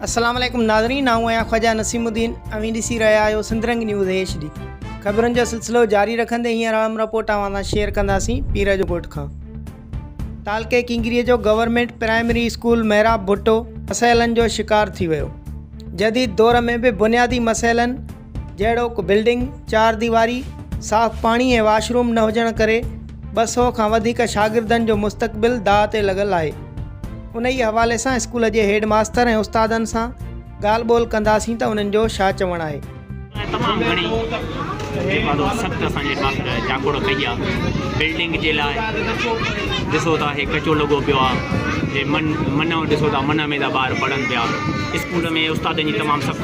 السلام عليڪم ناظرين آئون آهيان خواجا نسيم الدين اوهين ڏسي رهيا آهيو سندرنگ نيوز ايش ڊي خبرن جو سلسلو جاري رکندي هينئر اهم رپورٽ اوهان سان شيئر ڪنداسين پير جو ڳوٺ کان تعلقي ڪنگري جو government primary school Mehrab Bhutto مسئلن جو شڪار ٿي ويو جديد دور ۾ به بنيادي مسئلن جهڙوڪ بلڊنگ چار ديواري، صاف پاڻي ۽ واش روم نه هجڻ ڪري ٻه سؤ کان وڌيڪ شاگردن جو مستقبل داء تي لڳل آهي. انهيء حوالي سان اسڪول جي هيڊ ماستر ۽ استادن سان ڳالهه ٻولهه ڪنداسين ته انهن جو ڇا چوڻ آهي. تمام گهڻي جيڪا ته سخت اسان جي ماستر جاکوڙ ڪئي آ بلڊنگ جي لاء ڏسو ٿا هي ڪچو لڳو پيو آ هي من منو ڏسو ٿا منه ۾ ٿا ٻار پڙهن پيا اسڪول ۾ استادن جي تمام سخت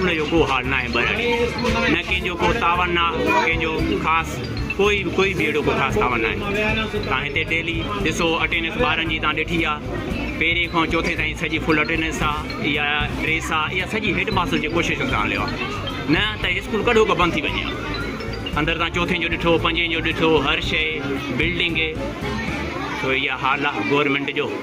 ان جو ڪو حال ناهي ٻهراڙي نه ڪنهن جو ڪو تاون نه ڪنهن جو خاص ڪوئي ڪوئي به اهڙو ڪو خاص تاون ناهي تان هتي ڊيلي ڏسو اٽينس ٻارن جي تان ڏٺي آ پهرين کان چوٿين تائين سڄي فل اٽينس آ يا ڊريس آ يا سڄي هيڊ ماستر جي ڪوشش سان هليو آ نه ته هي اسڪول ڪڏهو ڪو بند ٿي وڃي آ اندر تان چوٿين جو ڏٺو پنجين جو ڏٺو هر شئي بلڊنگ ٿو اهي حال آ گورنمينٽ جو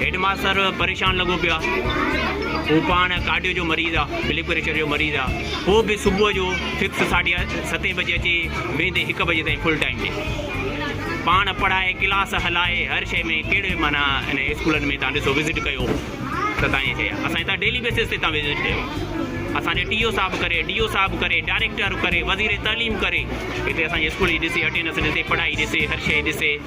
هيڊ ماستر پريشان لڳو پيو آهي. هو پاڻ ڪارڊيو جو مريض آ، بلڊ پريشر جو مريض آ. پوء به صبح جو فڪس ساڍي ستين بجي اچي ويهندي هڪ بجي تائين فل ٽائيم ڏي. پاڻ پڙهائي، ڪلاس هلائي، هر شيء ۾ ڪهڙي معنيٰ انهن اسڪولن ۾ تان ڏسو وزٽ ڪيو ته تان ائين چئي ها. اسان هتان ڊيلي بيسز تي تان وزٽ ڪيو. اسان جي ٽي او صاحب ڪري، ڊي او صاحب ڪري، ڊائريڪٽر ڪري، وزير تعليم ڪري هتي اسان جي اسڪول جي ڏسي اٽينڊنس ڏسي، پڙهائي ڏسي، هر شيء ڏسي.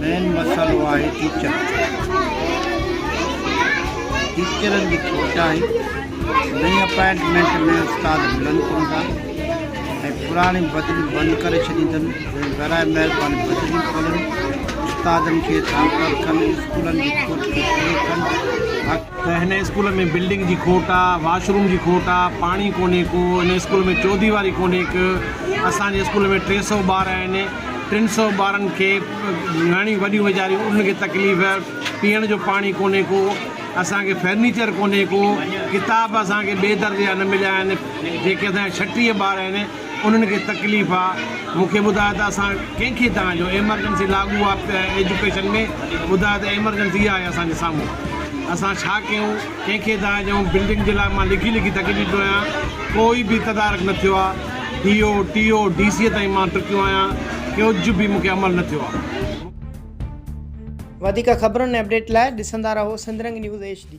مين مسئلو آهي ٽيچر ٽيچرن جي کوٽ آهي نئين اپائنٽمينٽ ۾ استاد ملن ڪون ٿا ۽ پراڻي بدليون بند ڪري ڇڏين اٿن برائي مهرباني بدليون کولن استادن کي ڌانڪر ڪن اسڪولن جي کوٽ کي پورو ڪن هن اسڪول ۾ بلڊنگ جي کوٽ آ واش روم جي کوٽ آ پاڻي ڪونهي ڪو هن اسڪول ۾ چوديواري ڪونهي ڪه اسان جي اسڪول ۾ ٽي سو ٻار آهن ٽن سئو ٻارن کي نياڻيون وڏيون ويچاريون انهن کي تڪليف، پيئڻ جو پاڻي ڪونهي ڪو، اسان کي فرنيچر ڪونهي ڪو، ڪتاب اسان کي ٻئي در جا نه مليا آهن، جيڪي اسان جا ڇٽيهه ٻار آهن انهن کي تڪليف آ، مون کي ٻڌايو ته اسان ڪنهن کي توهان جو ايمرجنسي لاڳو آ ايجوڪيشن ۾ ٻڌايو ته ايمرجنسي آهي اسان جي سامهون اسان ڇا ڪيون ڪنهن کي توهان جون بلڊنگ جي لاء مان لکي لکي ٿڪجي پيو آهيان ڪوئي به تدارڪ نه ٿيو آ. D O, T O, D C تائين مان ٽڪيو آهيان، ڪجهه به مون کي عمل نه ٿيو آهي. وڌيڪ خبرن ۽ اپڊيٽ لاء ڏسندا رهو سنڌرنگ نيوز ايڇ ڊي.